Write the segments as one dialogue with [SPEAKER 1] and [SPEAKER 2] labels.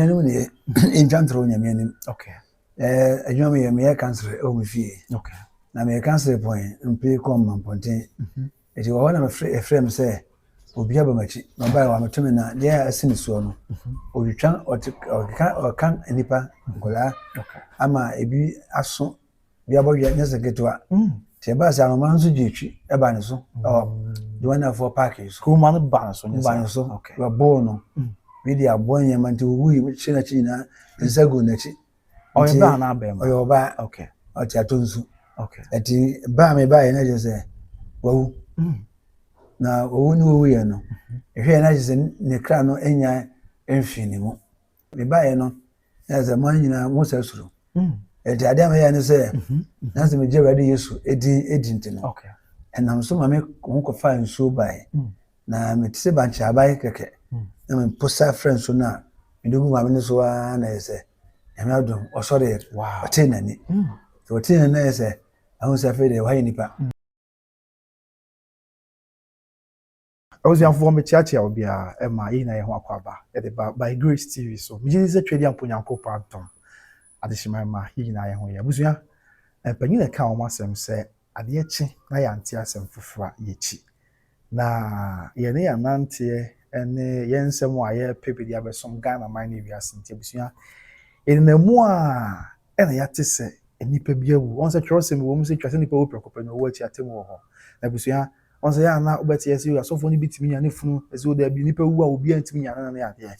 [SPEAKER 1] anuanom deɛ ɛntwa ntorɔ onyame anim
[SPEAKER 2] adwuma
[SPEAKER 1] meyɛ meyɛ kansere ɛwɔ me fie na meyɛ
[SPEAKER 2] kansere
[SPEAKER 1] pɔn mpe kɔ ma mpɔnten ɛti wɔ hɔ na ɛfrɛ me sɛ obi aba m'akyi na ɔbaɛ wa meto me na deɛ a asi ne soɔ no ɔtwitwa ɔka nnipa nkɔlaa ama
[SPEAKER 2] ebi
[SPEAKER 1] aso Obi abɔdwea nyɛ sɛ ketewa. Mm. Nti ɛbaa sɛ ahoma no nso gye twi ɛba ne so mm. ɛwɔ Joannafoɔ paaki yi so. Kuruma no ba ne so nyɛ
[SPEAKER 2] sɛ. Ba ne so. Okay.
[SPEAKER 1] Wɔbɔɔ no.
[SPEAKER 2] Mm.
[SPEAKER 1] Wei de aboa nneɛma nti owu yi hyɛ n'akyi nyinaa nsa gu n'akyi. Ɔyɛ baa na
[SPEAKER 2] abɛn ma. Ɔyɛ ɔbaa. Okay.
[SPEAKER 1] Ɔte ato
[SPEAKER 2] nsu.
[SPEAKER 1] Okay. Ɛti
[SPEAKER 2] baa mi
[SPEAKER 1] baa yɛ na kyerɛ sɛ wawu. Mm. Na owu ne owu yɛ no. Ehwɛ yɛ na kyerɛ sɛ ne kra no enya mfi ne mu. Mebaeɛ no, na yɛ sɛ mo nyinaa mo sɛ suro. Ɛti adeɛ a meyɛ ne sɛ, na sɛ megye Awurade Yesu edin edi nti no, ɛnam
[SPEAKER 2] so ma me
[SPEAKER 1] ho kɔfa nsuo baeɛ. Na mete sɛ bankye aban kɛkɛ. Na mempo sa frɛ nsuo no a, mede gu maame no so ara na yɛ sɛ, nyame adom, ɔsɔreɛ, ɔtee n'ani. Sɛ ɔtee n'ani na yɛ sɛ, ahu sɛ afei deɛ wayɛ nipa.
[SPEAKER 2] Abusuafoɔ mekyeakyea obiara ɛma yɛnyina yɛho akwaaba ɛde ba by grace TV so megyedi sɛ twɛdi ampo Nyankopɔn adom adehyema ɛma yɛnyina yɛho yɛ abusua mpanyini ɛka wɔn asɛm sɛ adeɛ kye na yɛante asɛm foforɔ a yɛkyi na yɛne yɛn ananteɛ ɛne yɛn nsɛm a yɛpɛ bɛdi abɛsom Ghana man ne wiase nti abusua yɛnina mu a ɛna yɛate sɛ nnipa bi awu wɔn sɛ twerɛsɛm wɔ mu sɛ twa sɛ nnipa wu prɛko pɛ na ɔwɔ akyi atemmu wɔ hɔ na abusua Ɔn sɛ yɛ a na wobɛte yɛ sɛ asɔfoɔ no bi tumi nya ne funu ɛsɛ o daabi nipa wu a obiara ntumi nya no ne adeɛ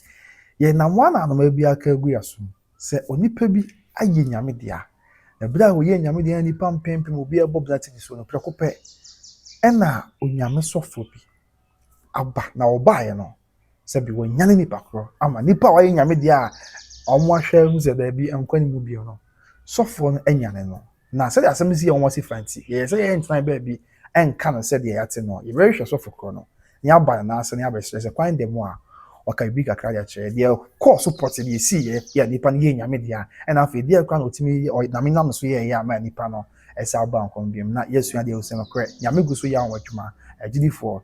[SPEAKER 2] yɛ nam wɔn anom ebi aka agu yɛ asom sɛ onipa bi ayɛ nyame dea na bere a wɔyɛ nyame dea nipa mpempem obi ɛbɔ bena tv so no prɛko pɛ ɛna onyame sɔfoɔ bi aba na ɔbaeɛ no sɛ bi wɔnyane nipa korɔ ama nipa a wɔayɛ nyame deɛ a wɔn ahwɛ hu sɛ daabi nkwa ne mu bio no sɔfoɔ no anyane no na sɛdeɛ asɛm si yɛ wɔn ase fa nti yɛyɛ sɛ yɛyɛ ntena baabi ɛnka no sɛdeɛ yɛate no yɛbɛhwehwɛ sɔfo korɔ no ne aba no n'ase ne abɛsrɛ sɛ kwan da mu a ɔka biribi kakra de akyerɛ deɛ kɔɔ so pɔte deɛ ɛsii yɛ yɛ nipa no yɛ nyame deɛ a ɛna afei deɛ kora na ɔtumi ɔname nam so yɛɛyɛ ama nipa no ɛsɛ aba nkwa mu biom na yɛasua deɛ ɔsɛ nokorɛ nyame gu so yɛ wɔn adwuma agyidifoɔ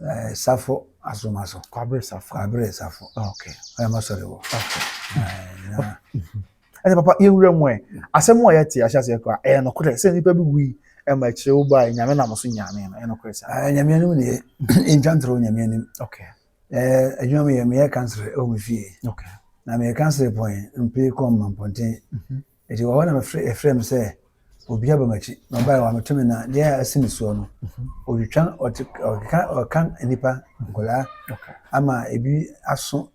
[SPEAKER 1] Ɛɛ Safo Asomaso. Kwabere Safo. Kwabere
[SPEAKER 2] Safo. Ah, okay. Ɛyɛ ma sɔre wɔ. Okay. Ɛna. Ɛna papa yɛ wura mu ɛ. Asɛm a yɛte ahyɛ aseɛ kora ɛyɛ nokorɛ sɛ nnipa bi wui ɛma akyire wo baa nyame nam so nyame no ɛyɛ nokorɛ sɛ. Ɛɛ nyame anim deɛ
[SPEAKER 1] ntwa ntorɔ nyame anim. Okay. Ɛɛ
[SPEAKER 2] adwuma mi
[SPEAKER 1] yɛ meyɛ kansere ɛwɔ me fie. Okay. Na meyɛ
[SPEAKER 2] kansere
[SPEAKER 1] pɔn mpire kɔn ma mpɔnten. Mhm. Enti wɔ hɔ na mefrɛ ɛfrɛ me sɛ obi aba m'akyi na ɔbae wameto me na deɛ a asi ne soɔ no ɔtwitwa ɔkeka ɔka nnipa nkwadaa ama
[SPEAKER 2] ebi
[SPEAKER 1] aso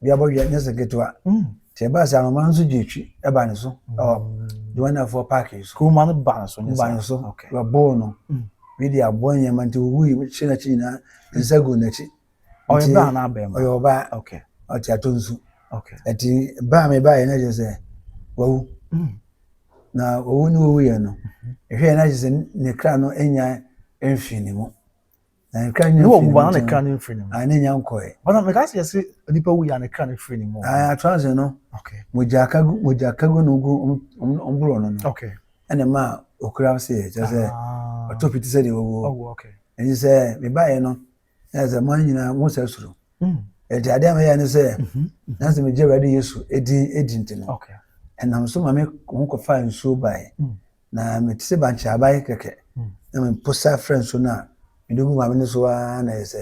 [SPEAKER 1] bi abɔdwea nyɛ sɛ ketewa nti ɛbaa sɛ anoma nso gye akyi ɛbaa ne so ɛwɔ Johannafoɔ paaki yi so kuruma no baa ne so nyɛ
[SPEAKER 2] baa ne so wɔbɔɔ
[SPEAKER 1] no bi de aboa nneɛma nti ɔwui kyerɛ n'akyi nyinaa nsa gu n'akyi ɔyɛ baa anaa
[SPEAKER 2] bɛrima ɔyɛ ɔbaa okay
[SPEAKER 1] ɔte ato
[SPEAKER 2] nsu
[SPEAKER 1] okay ɛti
[SPEAKER 2] baa mi
[SPEAKER 1] baa yɛ na kyerɛ sɛ wawu hmm. na wawu ne wawu yɛ no mhm. ɛhwɛ yɛ na kyerɛ sɛ ne kra no enya mfiri ne mu na ne kra nya mfiri ne mu na ne kra ne mfiri
[SPEAKER 2] ne mu a ne nya nkɔɛ bana
[SPEAKER 1] mɛ kasi yɛ se
[SPEAKER 2] nipa wu yɛ a ne kra ne mfiri ne mu aa ato ase no
[SPEAKER 1] okay mogya kagu
[SPEAKER 2] mogya kagu
[SPEAKER 1] no gu ɔmboro no no okay ɛna ma okura se yɛ kyerɛ sɛ ah. ɔtɔ piti sɛ de wawu ɛnti sɛ
[SPEAKER 2] mebaa
[SPEAKER 1] yɛ no Na sɛ mo nyinaa mo sɛ soro. Ɛti adeɛ a meyɛ ne sɛ na sɛ megye Awurade Yesu ɛdin ɛdi nti no ɛnam
[SPEAKER 2] so ma me
[SPEAKER 1] ho kɔfa nsuo bae na mete sɛ bankye abae kɛkɛ na meposa frɛ nsuo no a mede gu maame no so a na ɛyɛ sɛ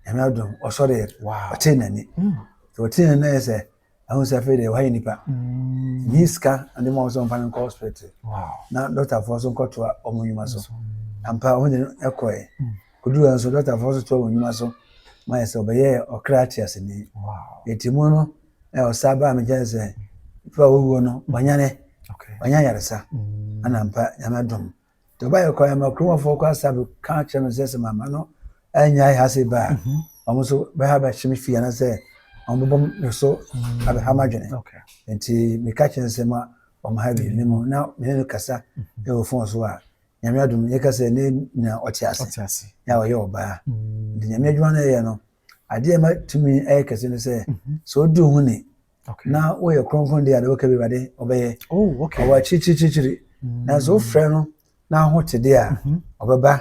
[SPEAKER 1] nyame adom ɔsɔreɛ ɔtee n'ani ɔtee n'ani na ɛyɛ sɛ ɛho sɛ afei deɛ wɔayɛ nipa nyi sika ɔde ma wɔn sɛ wɔmfa no nkɔ hospital na dɔktafoɔ nso nkɔtoa wɔn nnwuma so ampa wɔn de ɛkɔɛ koduru nso dɔktafoɔ nso toa wɔn nnwuma so ma yɛ sɛ ɔbɛyɛ ɔkra ate ase ni eti mu no ɛ ɔsa ba mi kyɛn sɛ fɛ owuo no wanyane wanya yaresa ɛna mpa nyame dom Tobiah kɔe ma kurom hɔfo kɔ asa bɛka kyerɛ no sɛ sɛ mamma no annyae ha ase ba a, mhm. wɔn nso bɛha bɛhye me fie anaasɛ wɔbɛbɔ me so mhm. abɛha m'adwene. Nti
[SPEAKER 2] meka
[SPEAKER 1] kyerɛ no sɛ ma wɔn ha bi ne mu na mene no kasa mhm. wɔ fon so a nyame adom yɛka sɛ ne nyina ɔte ase na ɔyɛ ɔbaa. Nti nyame adwuma no ɛyɛ no adeɛ ɛma tumi ɛyɛ kɛse no sɛ sɛ ɔdi ho ni na woyɛ kronkron deɛ ade woka bi wade ɔbɛyɛ ɔwɔ akyirikyirikyirikyiri nanso wofrɛ no na ho te deɛ a ɔbɛba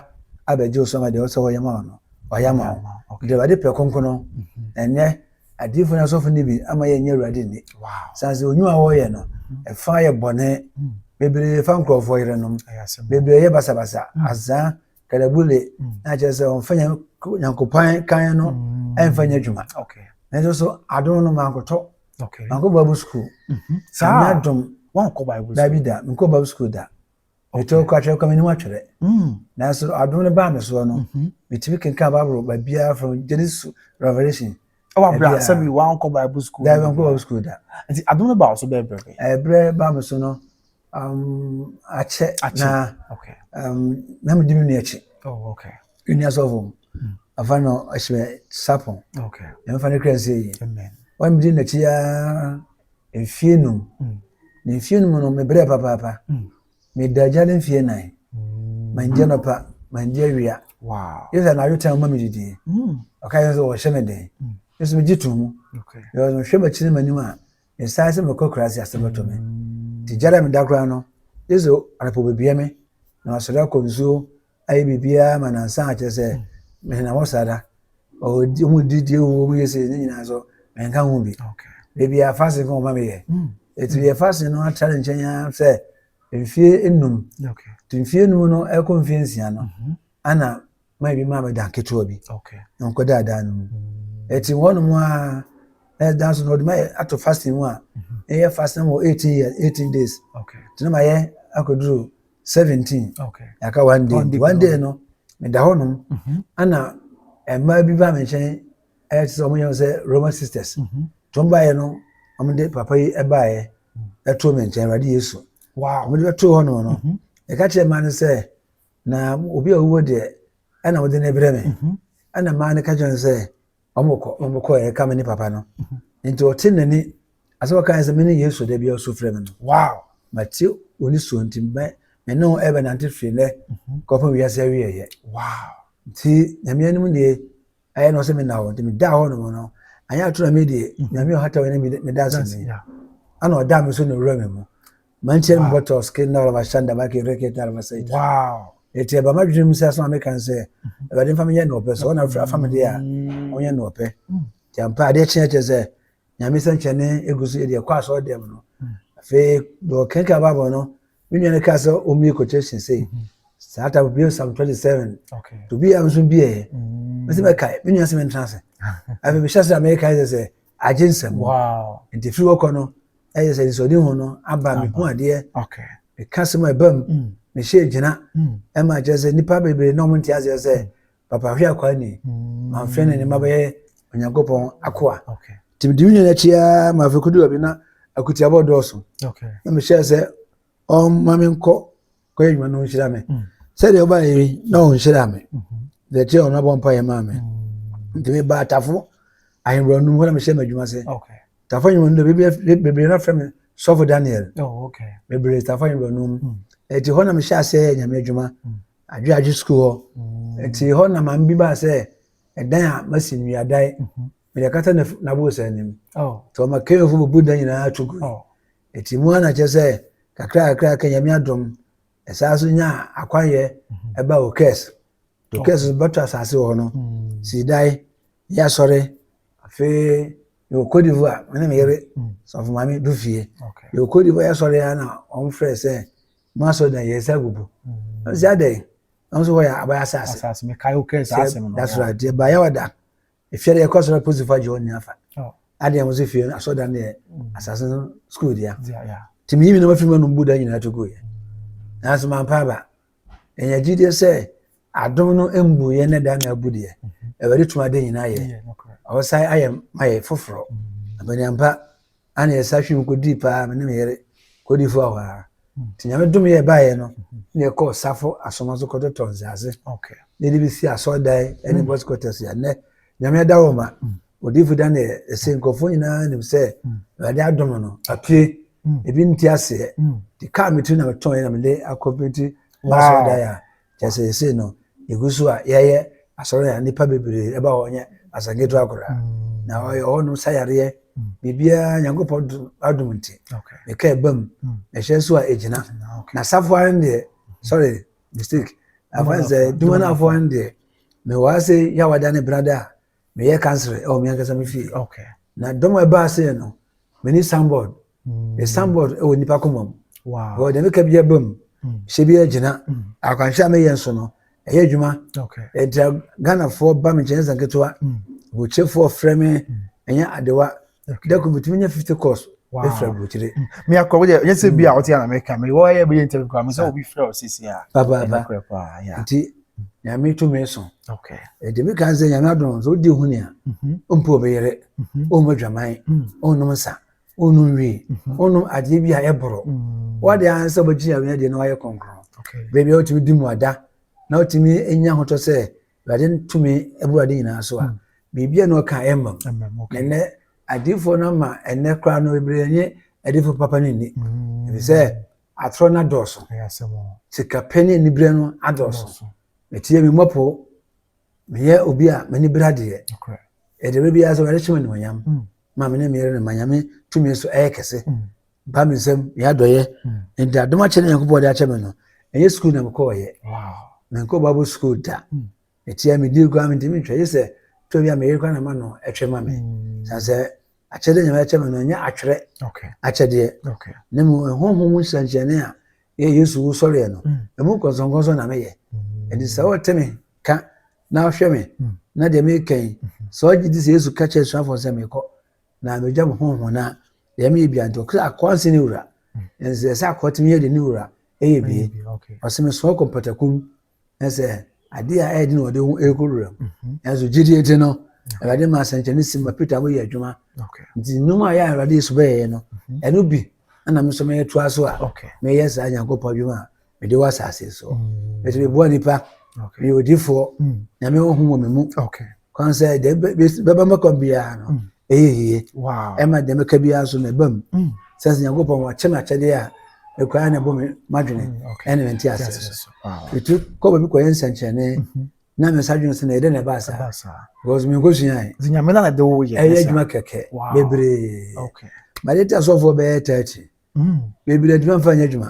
[SPEAKER 1] abɛgye wo so ma deɛ ɔsɛ ɔyɛ ma wo no ɔyɛ ma wo deɛ awurade pɛ kronkron no ɛnyɛ adiifo no asɔfo no bi ama yɛnyɛ awurade nni sane sɛ ɔnwuma a wɔyɛ no ɛfa yɛ bɔne bebree fa nkurɔfoɔ yerenom bebree yɛ basabasa azaa kalabule na kyerɛ sɛ ɔmfa nyankopɔn kan no ɛmfa nyɛ adwuma nanso so adom no mankɔtɔ mankɔ bible school mhm. saa adom wankɔ bible school dabi
[SPEAKER 2] da menkɔ bible school
[SPEAKER 1] da metɔ kɔ atwerɛ kɔ menim atwerɛ mm. nanso adom no baa me soɔ no mhm. metumi kenka bible baabiara from genesis revelation ɛwɔ abira Ɛbia. sɛbi
[SPEAKER 2] wankɔ bible school Daabi nkɔ Bible school da.
[SPEAKER 1] nti adum no ba so
[SPEAKER 2] bɛyɛ bɛbɛ Ɛbrɛ ba me
[SPEAKER 1] so no, um, akyɛ Akyɛ. na okay um, na medi me nua akyi. oh okay Nua sɔfo mu. Afa no ɔhyɛ sapon. okay Na mefa no kura sɛ yi. amen Wɔn medi
[SPEAKER 2] n'akyi
[SPEAKER 1] ara mfie num. Mm. Na mfie num no mebrɛ papaapa. Mm. Meda gya no mfie nan. Mm. Mangye nɔpa, mangye awia. Wow. Yesu anadwo tɛn ma me didie. Mm. Ɔka yɛ sɛ wɔhyɛ me den. Mm. Yesu megye to mu. Okay. Yɛ ɔno hwɛ m'akyi ne m'anim a, mesae sɛ mekɔ kura ase asɛm bɛtɔ me. Mm. Te gya dɛ meda koraa no, Yesu anapɔ bɛbia me na masɔre akɔ nsuo ayɛ biribiara ma nansa akyerɛ sɛ mehena hɔ saa da ɔdi ɔmo di die wo ɔmo yɛ se ne nyinaa so mɛnka ho bi beebi a fasin kɔn ɔma mi yɛ hmm. eti yɛ fasin no atra ne nkyɛn ya sɛ mfie enum ti mfie enum no ɛkɔ mfie nsia no mhm. ana maa bi maa mi dan ketewa bi na nkɔ daa dan no mu hmm. eti wɔn nom a ɛyɛ dan so na ɔde ma yɛ ato fasin mu a mhm. ɛyɛ fasin mu eighteen years eighteen days tena ma yɛ akɔduru seventeen yɛaka one day nti one day no meda hɔnom mhm. ana mmaa bi ba me nkyɛn ɛte sɛ wɔyɛ sɛ roman sisters mhm. nti wɔn baeɛ no wɔn de papa yi baeɛ mhm. ɛtoo me nkyɛn awurade yesu wɔn de bɛtoo hɔnom no yɛka kyerɛ mmaa no sɛ na obi a ɔwuo deɛ ɛna wɔde no brɛ me ɛna mmaa no ka kyerɛ no sɛ wɔkɔ wɔn kɔ yɛ kame ne papa no nti ɔte n'ani asɛ wɔka yɛ sɛ me ne yesu da bi a ɔso frɛ me no wow mate wɔne suo nti mɛ me ne wɔn ɛbɛnante firi nɛ mhm. kɔpem wiase awieɛ wow nti nyame anim deɛ ɛyɛ na ɔsɛ me na hɔ nti meda hɔ nom no anyɛ ato na me deɛ mhm. nyame ɔhata wɔ ne meda ase ne ana ɔda me so na owura me mu Mankyɛn mu bɔtɔs ke na ɔlɔba hyɛn daba ke reke ta ɔlɔba sɛ ita. Eti ɛba m'adwene mu sɛ asɛm a meka no sɛ Awurade mfa menyɛ nea ɔpɛ so ɔna afiri afa me deɛ a ɔnyɛ nea ɔpɛ. Nti ampa adeɛ kyeɛ kyerɛ sɛ Nyame sɛnkyerɛnne egu so yɛ deɛ kɔ asɔre dɛm no. Afei deɛ ɔkenkan Bible no me nua no kaa sɛ ɔmmie quotation sei. Saa ta bie Psalm 27. Tobi a nso bieɛ. Mese mɛkae me nua sɛ mentena ase. Afei mehyɛ sɛ Amerika sɛ sɛ agye nsɛm mu nti firi hɔ kɔ no ɛyɛ sɛ nsɔde ho no aba mehu adeɛ meka sɛm a ɛba mu mm. mehyɛ gyina mm. ɛma kyerɛ sɛ nnipa bebree na ɔmo nte aseɛ sɛ mm. papa hwe akwaa ni mamfrɛ ne ne ma bɛyɛ onyankopɔn akoa nti mede me nyina akyi ara ma afei kodu baabi na akutiabɔ dɔɔso na mehyɛɛ sɛ ɔma menkɔ kɔyɛ adwuma na ɔnhyira me mm. sɛdeɛ ɔba yɛ na ɔnhyira me mm-hmm. deɛ kyerɛ ɔno abɔ mpa yɛ maa me mm. nti meba atafo ahemborɔ no mu hɔ na mehyɛ m'adwuma sɛ tafo ahemborɔ no bebree no afrɛ me sɔfo daniel oh, bebree tafo ahemborɔ no mu ɛti hɔ na mehyɛ aseɛ yɛ nyame adwuma adwe adwe sukuu hɔ ɛti hɔ na maame bi baa sɛ ɛdan a masi nnuadae mm-hmm. mede akata n'abowosan anim nti ɔma kenyofo bubu da nyinaa to gu ɛti mu a na kyɛ sɛ kakra kakra ka nyame adom ɛsaa so nya akwayɛ ɛba o kɛs to kɛs so bɛtɔ asase wɔ hɔ no si dae yɛ asɔre afei yɛwɔ Côte d'Ivoire mene me yere sɔfo maame du fie yɛwɔ Côte d'Ivoire yɛ asɔre a na wɔn frɛ sɛ mo asɔre na yɛ sɛ agugu ɛsɛ adɛn wɔn nso hɔ yɛ abayɛ asase
[SPEAKER 2] that's right yɛ bayɛ wada
[SPEAKER 1] efia deɛ ɛkɔ so na polisi fo agye wɔn nyinaa fa oh. adeɛ wɔn nso fie no asɔ dan deɛ mm. asase no sukuu deɛ te mi yi mi na wafiri mu anum bu dan nyinaa to gu yɛ nanso maa mpa aba ɛnyɛ gyi deɛ sɛ adom no mbu yɛ ne dan na abu deɛ ɛwɛde tuma de nyinaa yɛ ɔsan ayɛ ma yɛ foforɔ abɛnɛmpa Ana yɛ sahwim kɔdii paa me ne me yere kɔdi fo hɔ a nti nyame dom yɛ baeɛ no ne yɛ kɔɔ safo asoma so kɔtɔtɔ nsaase ne de bi si asɔɔdan ɛne bɔs kɔtɛ so yɛnɛ nyame ada wɔ ma ɔdifo da ne yɛ ɛsɛ nkurɔfoɔ nyinaa nim sɛ awurade adom no apue ebi nti aseɛ ti kaa me tiri na me tɔn yɛ na me de akɔpiti asɔɔdan a Kyerɛ sɛ yɛsei no, yɛgu so a yɛyɛ asɔre a nnipa bebree ɛba hɔ nyɛ asɛnketewa koraa. Mm. Na ɔyɛ hɔ no sa yareɛ, mm. biribiara Nyankopɔn adom nti. Meka ɛba mu, mm. na ɛhyɛ so a ɛgyina. Na safo ara no deɛ, sorry, mistake. Afa sɛ dwuma no afoɔ no deɛ, mewɔ ase yɛ awada ne brada a, meyɛ councillor ɛwɔ me ankasa me fie okay. na dɔm a ɛbaa sɛ no mene sambɔd me mm. sambɔd ɛwɔ nnipa koma mu ɛwɔ deɛ meka bi aba mu mm. hyɛ bi agyina mm. akwanhwɛ a meyɛ nso no ɛyɛ adwuma ɛnti ghanafoɔ ba me nkyɛn sɛ nketewa bɔkyefoɔ frɛ me ɛnyɛ adewa da ko bitumi nya fifty course efura burukyire. mi akɔ wɔyɛ yɛ sɛ
[SPEAKER 2] bi a ɔte anam ɛka mi wɔyɛ bi yɛ ntɛm kura mi sɛ obi fura ɔsisi a. papaapa
[SPEAKER 1] nti nyame tumi so ɛdi mi kan sɛ nyame adum so odi ohun ya ompo obi yɛrɛ ɔmo adwaman ɔnom nsa ɔnom wie ɔnom adeɛ bi a ɛboro wɔde ansa ɔbɛgye nyame adeɛ na wɔayɛ kɔnkɔn baabi a ɔtumi di mu ada na ɔtumi nya ahotɔ sɛ awurade no tumi abu ade nyinaa so a biribi a na ɔka ɛmma mu ɛnɛ adiifoɔ no ama ɛnɛ koraa no bebree nye adiifoɔ papa no nni ɛfiri sɛ atorɔ no adɔɔso sikapɛ ne aniberɛ no adɔɔso metie me mmɔpo meyɛ obi a m'ani berɛ adeɛ ɛdere biara sɛ awurade hyɛ me animuonyam ma me ne meyere no ma nyame tumi so ɛyɛ kɛse ba me nsam ne adɔyɛ nti adom akyɛ ne nyankopɔn de akyɛ me no ɛnyɛ sukuu na mekɔɔyɛ menkɔ bible sukuu da ɛtia hmm. medie koraa mentimi ntwa ye sɛ tɔ bi a meyere kora na ma no ɛtwe ma me hmm. san sɛ akyɛdeɛ nyame akyɛ me no ɛnyɛ atwerɛ akyɛdeɛ ne mu ɛhoho mu nhyɛnkyɛne a yɛ yesu wo sɔreɛ no hmm. ɛmu nkɔnsɔnkɔnsɔn na meyɛ ɛnti sɛ wɔte me ka na ahwɛ me na deɛ meka yi sɛ ɔgye di sɛ yesu ka kyerɛ asuafoɔ sɛ mekɔ na megya me honho no a Dɛm yɛ bia nti ɔkɔ sɛ akɔa nse ne wura. Nso ɛsɛ akɔa tumi yɛ de ne wura ɛyɛ bie. Ɔsɛ me soa kɔ mpatakum ɛsɛ adeɛ a ɛyɛ de na ɔde ho ɛkɔ wura mu. Nso gyidie nti no awurade ma asɛnkyɛne si ma Peter mo yɛ adwuma. Nti nnwuma a yɛ awurade Yesu bɛyɛ no ɛno bi ɛna me nso mɛyɛ toa so a mɛyɛ saa Nyankopɔn adwuma a mede wɔ asase so ɛsɛ mm. meboa nipa meyɛ odifoɔ mm. nyame ɔho wɔ me mu kwan sɛ deɛ bɛba mɛkɔ biara no mm. ɛyɛ yie ɛma deɛ mɛka biara so mɛba mu sɛ sɛ nyankopɔn wakyɛ me akyɛdeɛ a ɛkura na ɛbɔ me madwene ɛne mente aseɛ so ɛtu kɔ baabi kɔyɛ nsɛnkyerɛnne mm-hmm. na me nsa dwene sɛ na ɛdɛ na ɛba saa because menkɔsuae
[SPEAKER 2] ɛyɛ adwuma kɛkɛ
[SPEAKER 1] bebree made te asɔfoɔ bɛyɛ 30 mm. baabi na adwuma mfa nyɛ adwuma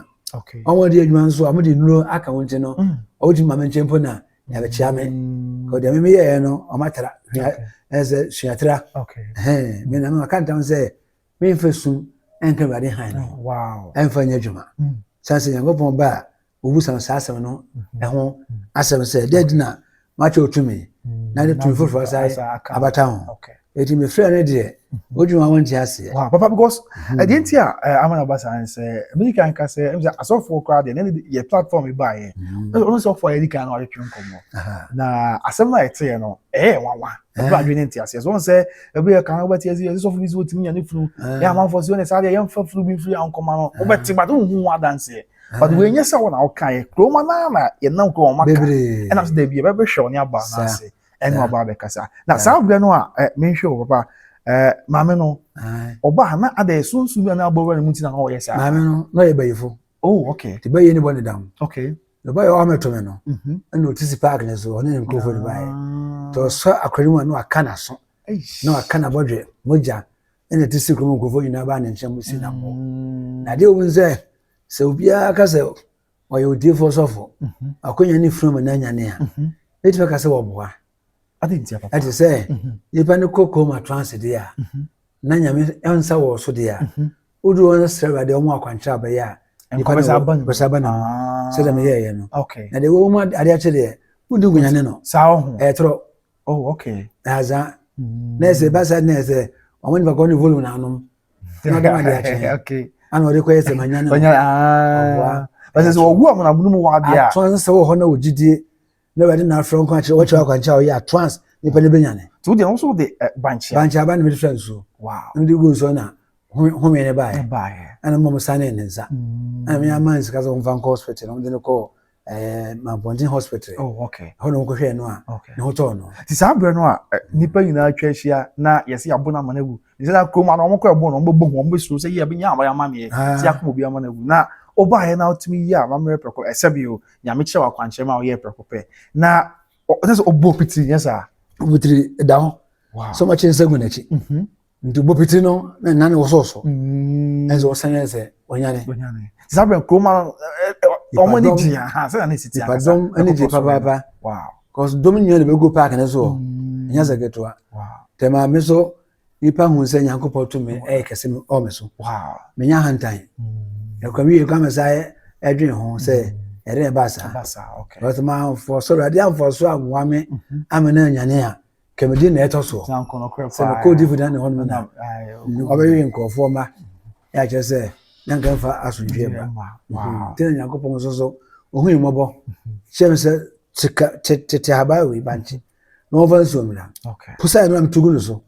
[SPEAKER 1] wɔn wɔn de adwuma nso a wɔn de nnuro aka wɔn ti no mm. wɔn ti mu maame nkyɛn mpo na yɛabɛkyia me kò deɛ mímí yɛɛ no wɔn atara ɛsɛ suatra ɛhɛn mi na mi ma ka ntam sɛ mi nfa sum ɛnka awurade han no ɛnfa nyɛ adwuma sanse nyankopɔn ba a wɔbisa no saa asɛm no ho asɛm sɛ dɛn nti na moakyɛ wo tumi na ne tumi foforɔ asan abata ho ɛti mefrɛ no deɛ wodwene wa wonte aseɛ papa because
[SPEAKER 2] ɛdeɛ nti a ama no ba saa ne sɛ medi kan ka sɛ ɛmsɛ asɔfoɔ koraa deɛ na yɛ platform baeɛ ɔno sɛ ɔfoɔ a yɛdi kan na wɔatwetwe nkɔmmɔ na asɛm no a ɛteɛ no ɛyɛ nwanwa ɛbɛ adwene ne nte aseɛ so sɛ ɛbɛ yɛ kan wobɛte aseɛ ɛsɛ sɔfo bi sɛ wɔtumi nya ne funu yɛ amanfoɔ sɛ ɔne saa deɛ yɛmfa funu bi mfiri ankɔma no wobɛte ba de wohu ho adanseɛ but wei nyɛ sɛ wɔn na ɔka yɛ kuroma naa na yɛn nam kura wɔn aka bebree ɛna sɛ dabi ɛbɛ bɛhwɛ wɔn aba Saa. n'ase ɛna Saa. ɔba abɛkasa na Saa. saa abirɛ no a ɛ menhwɛ wɔ papa ɛ maame no Ae. ɔba a na ada yɛ sunsun bi a na abɔ wura ne mu ti na na ɔyɛ saa maame no na ɔyɛ bayifo
[SPEAKER 1] oh okay te bɛyɛ
[SPEAKER 2] ne bɔ ne dam
[SPEAKER 1] okay na ɔba yɛ ɔamɛto me no mhm ɛna ɔte si park ne so ɔne ne nkurɔfoɔ no baeɛ nti Ah. ɔsɔ akora no mu a na waka n'aso Eish. na waka n'abɔdwe mogya ɛna ɛte sɛ kurom nkurɔfoɔ nyinaa baa ne nkyɛn mu si nam hɔ mm. na adeɛ wɔn sɛ sɛ obiara ka sɛ ɔyɛ odiefoɔ sɔfo mhm. akonnwa ne funu mu na anya ne a mhm. ɛtumi ka sɛ wɔboa
[SPEAKER 2] ɛte sɛ mhm.
[SPEAKER 1] nipa ne kɔ kɔn mu atranse deɛ a na nyame nsa wɔ so deɛ a wodu wɔn srɛ awurade wɔn akwankyerɛ abɛyɛ a nipa ne bɛsa ba ne mu ah. sɛdeɛ meyɛɛyɛ no na deɛ wɔn mu adeɛ akyɛ deɛ wodi gunyane no ɛtorɔ
[SPEAKER 2] oh
[SPEAKER 1] okay ɛyasa na ɛsɛ ɛba sɛ na ɛsɛ wɔn nipa kɔ ne volume na anom ɛna ɔde ma de akyɛn okay ana ɔde kɔ yɛ sɛ ma nya ne ma ɔboa
[SPEAKER 2] ɛsɛ sɛ ɔwu ɔmo na ɔmo mu wɔ adeɛ a atɔn sɛ wɔ hɔ na ɔgyidie
[SPEAKER 1] na ɔde na afrɛ nkwa kyerɛ wɔkyerɛ akwankyɛ a ɔyɛ atɔns nipa ne benya ne tí o deɛ nso de
[SPEAKER 2] eh, bankyia bankyia aba na mi de fira nsuo
[SPEAKER 1] wow na mi de gu nsuo na home ne baayɛ ɛna mo mo san ne ne nsa ɛna mi ama nsika sɛ wɔn fa nkɔ hospital na wɔn de ne kɔ. Eh, Mampɔnten hospital. Oh, okay. Ɛhɔ na wɔkɔhwɛɛ
[SPEAKER 2] no a, okay.
[SPEAKER 1] ne ho tɔɔ no. Ti
[SPEAKER 2] saa
[SPEAKER 1] berɛ no a
[SPEAKER 2] nnipa nyinaa atwa ahyia na yɛsɛ yɛabo no ama no awu. Nti sɛ kurom ano wɔkɔ ɛbo no, wɔbɛbɔ hu, wɔbɛsuro sɛ yɛ bɛnya abayɛ ama meɛ, ah. sɛ akoma obi ama no awu. Na wobaeɛ na wotumi yi a mammerɛ prɛko, ɛsɛ bi o, nyame kyerɛ wakwankyerɛ ma woyɛ prɛko pɛ. Na ɔsɛ sɛ ɔbɔ pitiri nyɛ saa. Pitiri da hɔ.
[SPEAKER 1] Wow. Sɛ wɔkyerɛ nsa
[SPEAKER 2] gu n'akyi.
[SPEAKER 1] Mhm. nti bopiti no na nane wosɔ so ɛnso wɔsan yɛ sɛ ɔnyane saa bɛn
[SPEAKER 2] kurom ɔmo ani gye aha sɛ na esiti akasa nipadɔm ani gye papaapa
[SPEAKER 1] cause
[SPEAKER 2] dɔm nyinaa na
[SPEAKER 1] bɛgu paaki no so ɛnyɛ sɛ ketewa tɛmaa
[SPEAKER 2] me so
[SPEAKER 1] nipa hu sɛ nyankopɔn tumi ɛyɛ kɛse mi ɔɔ me so menya ahantan ɛkwa mi yɛ kwa me sa ɛdwen ho sɛ ɛdɛn ɛbaa saa wɔtɛmaa
[SPEAKER 2] mfɔ
[SPEAKER 1] sɔrɔ adeɛ amfɔ so amoa me ama na anyane a kɛmɛdie na ɛtɔ soɔ sɛ no kɔɔ
[SPEAKER 2] difo dan ne hɔ
[SPEAKER 1] nom na ɔbɛwe nkurɔfoɔ ma yɛ akyerɛ sɛ na nka mfa asomdwie ba nti na nyankopɔn
[SPEAKER 2] nso so
[SPEAKER 1] ɔhui mmɔbɔ kyerɛ me sɛ kyeka tete habaa wei bankye na wɔmfa nsuo mmra posaɛ no na metogu
[SPEAKER 2] no so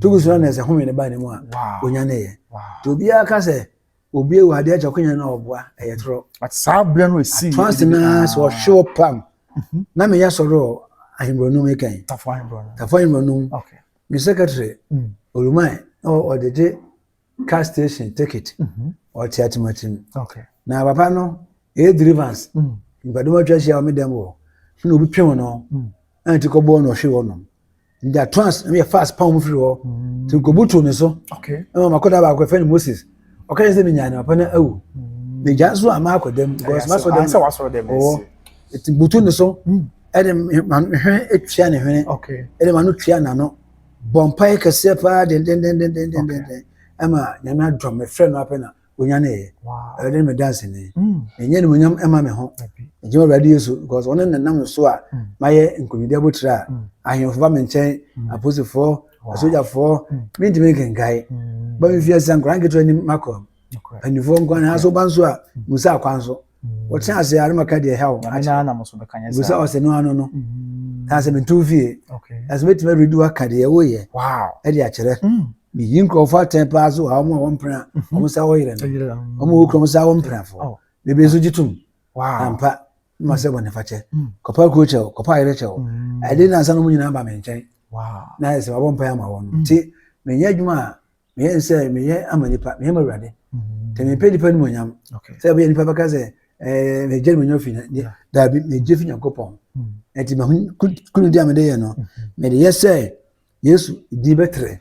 [SPEAKER 1] togu so no na ɛsɛ home no baa ne mu a ɔnya ne yɛ nti obiara ka
[SPEAKER 2] sɛ
[SPEAKER 1] Obi ewu adeɛ kyɛ konya na ɔboa ɛyɛ torɔ. At saa berɛ no
[SPEAKER 2] ɛsii. Atɔnse na sɛ ɔhwe
[SPEAKER 1] wo pam. Mhm. Na meyɛ sɔrɔ ahembrɔnum ekɛn. Tafo ahembrɔnum. Tafo ahembrɔnum. Okay. Me secretary mm. Oluman na ɔde gye car station ticket. Mhm. Ɔte atematim. Okay. Na papa
[SPEAKER 2] no
[SPEAKER 1] ɛyɛ deliverance. Mm. Nipadɔm atwa ahyia wɔ me dɛm wɔ. Na obi pem no. Mm. ɛna ti kɔbɔɔ na ɔhwee hɔnom nti atrans ɛna yɛ fast pam mu firi hɔ nti nkobutu ne so ɛna ɔmo akɔda baako
[SPEAKER 2] ɛfɛ ne
[SPEAKER 1] moses ɔka yɛ sɛ mi nyaa ne papa na awu na gya nso ama akɔ dɛm because ma sɔ dɛm ɔwɔ
[SPEAKER 2] eti
[SPEAKER 1] butu ne so ɛde ma ne hwene etua ne hwene ɛde ma no tua
[SPEAKER 2] n'ano
[SPEAKER 1] bɔ mpae kɛseɛ paa dendendendendenden ɛma nyame adɔm ɛfrɛ no apɛ na. onyaneeɛ awurade ne me danseni menyɛ animonyam ɛma me ho megyina awurade yesu because ɔne nenam so a mayɛ nkonimdi abotire a ahemfo ba me nkyɛn aposifoɔ asogyafoɔ mentumi nkenkae ba me fiase a nkora nketewa nim makɔ mpanimfoɔ nkwa ne aso ba nso a musa akwan so wɔkyena ase a maka deɛ ɛha wo
[SPEAKER 2] busa ɔsɛ no ano no
[SPEAKER 1] mm. na sɛ meto fie ɛsɛ mɛtumi awuredi
[SPEAKER 2] waka
[SPEAKER 1] deɛ woyɛ ɛde akyerɛ mm. meyi nkurɔfoɔ atɛn paa so a wɔn a wɔmpena mm-hmm. wɔn sa wɔyerɛ no wɔn wɔkura wɔn sa wɔmpenafoɔ oh. bebree nso gye tom ampa
[SPEAKER 2] ma
[SPEAKER 1] sɛ bɔne fakyɛ mm. kɔpa kuro kyɛw kɔpa ayerɛ kyɛw ɛde nansa no mu nyinaa ba me nkyɛn na ɛsɛ
[SPEAKER 2] wabɔ mpae ama
[SPEAKER 1] wɔn nti menyɛ adwuma a meyɛ ne sɛ meyɛ ama nipa meyɛ ma awurade nti mempɛ nnipa animonyam sɛ ɛbɛyɛ nnipa bɛka sɛ megye animonyam fi daabi megye fi nyankopɔn nti makonidi a mede yɛ no mede yɛ sɛ yesu din bɛtrɛ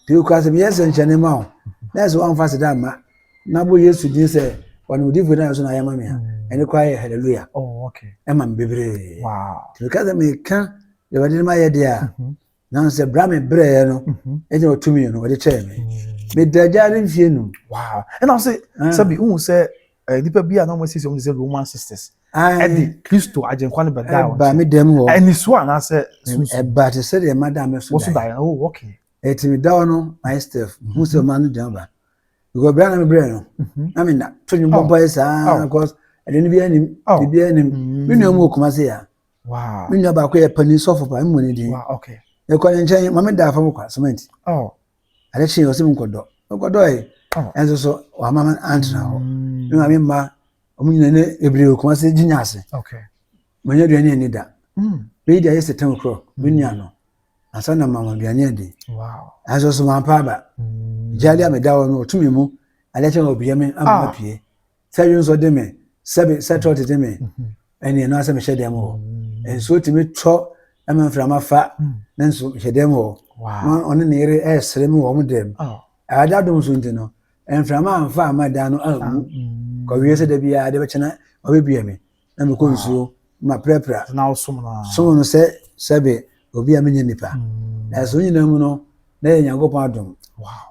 [SPEAKER 1] nti wokora
[SPEAKER 2] sɛ meyɛ
[SPEAKER 1] sɛnkyɛne ma wo na ɛsɛ woamfa seda mma na bɔ yesu din sɛ ɔne odifo no so na ayɛ ma me a ɛne kora yɛ halleluya ɛma me
[SPEAKER 2] bebree
[SPEAKER 1] nti meka sɛ
[SPEAKER 2] meka
[SPEAKER 1] awurade no mayɛ deɛ a nanso ɛbra me brɛɛ no mhm. ɛna ɔtumi no ɔde kyɛɛ me mm. meda agya ne mfie num. wow ɛna ɔsɛ
[SPEAKER 2] ah. sɛbi n sɛ eh, nnipa bi a na wɔn asisi wɔn sɛ roman sisters ɛde kristo agyenkwa no bɛda wɔn ɛba me dɛm hɔ ɛni
[SPEAKER 1] so anaasɛ
[SPEAKER 2] sunsun ɛba te sɛ
[SPEAKER 1] deɛ madam mi so da yɛ wɔso da yɛ oh ok
[SPEAKER 2] ɛti mi da hɔ no
[SPEAKER 1] my steph n mhm. sɛ ɔmaa no dɛm ba because bɛrɛ na mi brɛ no mhm. na mi na to nyi bɔ bɔ yɛ saa oh. because ɛdini bi ɛnim oh. bibi ɛnim mi nua mu okuma se ya. Wow. Me nua baako
[SPEAKER 2] yɛ panin
[SPEAKER 1] sɔfo pa, mmɔ ne din. Wow, okay. Mekɔ
[SPEAKER 2] ne nkyɛn, ma
[SPEAKER 1] me da fam kwa cement. Oh. Ade kye ɔsɛ mu nkɔdɔ. Mekɔdɔ ɛ. Oh. Ɛnso so wama me antena hɔ. Mm. Me maame mma ɔmo nyina ne ebire okuma sɛ gyinya ase. Okay.
[SPEAKER 2] Manya aduane
[SPEAKER 1] ani da. Mm. Bɛyi di ayɛ sɛ tɛn korɔ, me mm. nua no. Ansa na mama aduane adi. Wow. Ɛnso so
[SPEAKER 2] mampa aba.
[SPEAKER 1] Mm. Gyaade a meda hɔ no ɔtumi mu. Ade kye ɔbia me ama ah. pie. Sɛ dwonsɔ de me, sɛ be, sɛ trɔt de me, ɛne ɛno asɛ mehyɛ dɛm hɔ. Nsuo tumi tɔ ɛma mframa fa, nanso mehyɛ dɛm hɔ. Na ɔne ne yere
[SPEAKER 2] ɛresere
[SPEAKER 1] me wɔ wɔn dɛm. Awurade adom so nti no, mframa amfa amma dan no anwu. Kɔwie sɛ da biara de bɛkyɛ na ɔbɛbie me. na mekɔ nsuo ma prapra som
[SPEAKER 2] no sɛ
[SPEAKER 1] sɛbe obi a menyɛ nipa mm. na ɛsɛ nyinaa mu no na yɛ nyankopɔn adom